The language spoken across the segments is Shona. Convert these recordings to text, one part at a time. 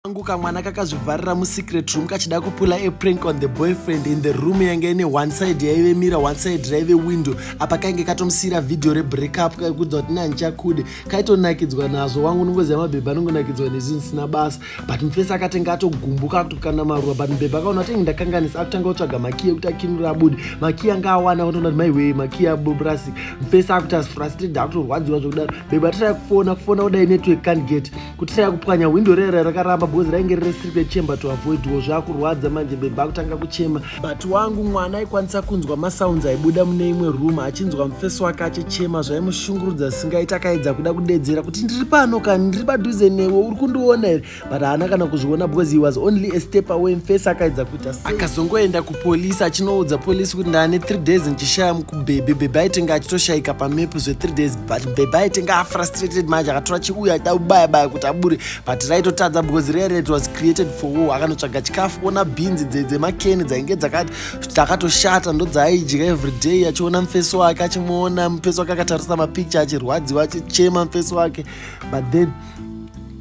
kangu kamwana kakazvivharira musecret room kachida kupula a prank on the boyfriend in the room yange ine one side yaive mira one side raive window apa kainge katomusiyira vhidhiyo rebreakup kaikuudza kuti nehandichakude kaitonakidzwa nazvo wangu unongoziva mabhebha anongonakidzwa nezvinhu zvisina basa but mufesi akatenge atogumbuka kutokana maruva but mubhebha akaona atenge ndakanganisa akutanga kutsvaga makiya kuti akinura abude makiya anga awana akatoona kuti maiwee makiya abubrasik mufesi akuti asfrasted akutorwadziwa zvekudaro bhebha atira kufona kufona kudai network can't get kutira kupwanya hwindo rera rakaramba because rainge riri secret chamber to avoid wo zvakurwadza manje bhebha kutanga kuchema but wangu mwana aikwanisa kunzwa masounds aibuda mune imwe room achinzwa mufesi wake achichema zvaimushungurudza zvisingaiti akaedza kuda kudedzera kuti ndiri pano kani ndiri padhuze newe uri kundiona here but haana kana kuzviona because he was only a step away mufesi akaedza kuita sei akazongoenda kupolisi achinoudza polisi kuti ndaane three days ndichishaya mukubhebhe bhebhe aitenge achitoshaika pamepu zve three days but bhebha aitenga afrustrated manje akatora chiuya aida kubaya baya kuti abure but raitotadza because rere it was created for war akanotsvaga chikafu ona bhinzi dzemakeni dzainge dzakati dzakatoshata ndodzaaidya everyday achiona mufeso wake achimuona mufeso wake akatarisa mapicture achirwadziwa achichema mufeso wake but then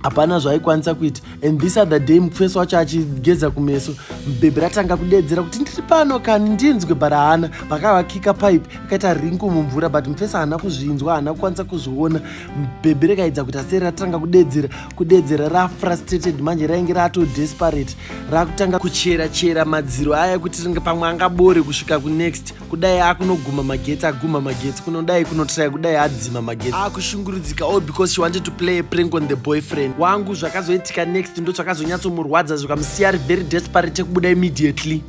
hapana zvaikwanisa kuita and this other day mufeso wacho achigeza kumeso bhebhi ratanga kudeedzera kuti ndiri pano kani ndinzwe bara haana pakavakika pipe akaita rinku mumvura but mufeso haana kuzvinzwa haana kukwanisa kuzviona bhebhi rekaidza kuti aseri ratanga kudeedzera kudeedzera rafrustrated manje rainge rato desperate rakutanga kuchera chera madziro aya kuti ringe pamwe angabore kusvika kunext kudai akunoguma magetsi aguma magetsi kunodai kunotraya kudai adzima magetsi akushungurudzika all because she wanted to play a prank on the boyfriend wangu zvakazoitika next ndo zvakazonyatsomurwadza zvikamusiya ari very desperate ekubuda immediately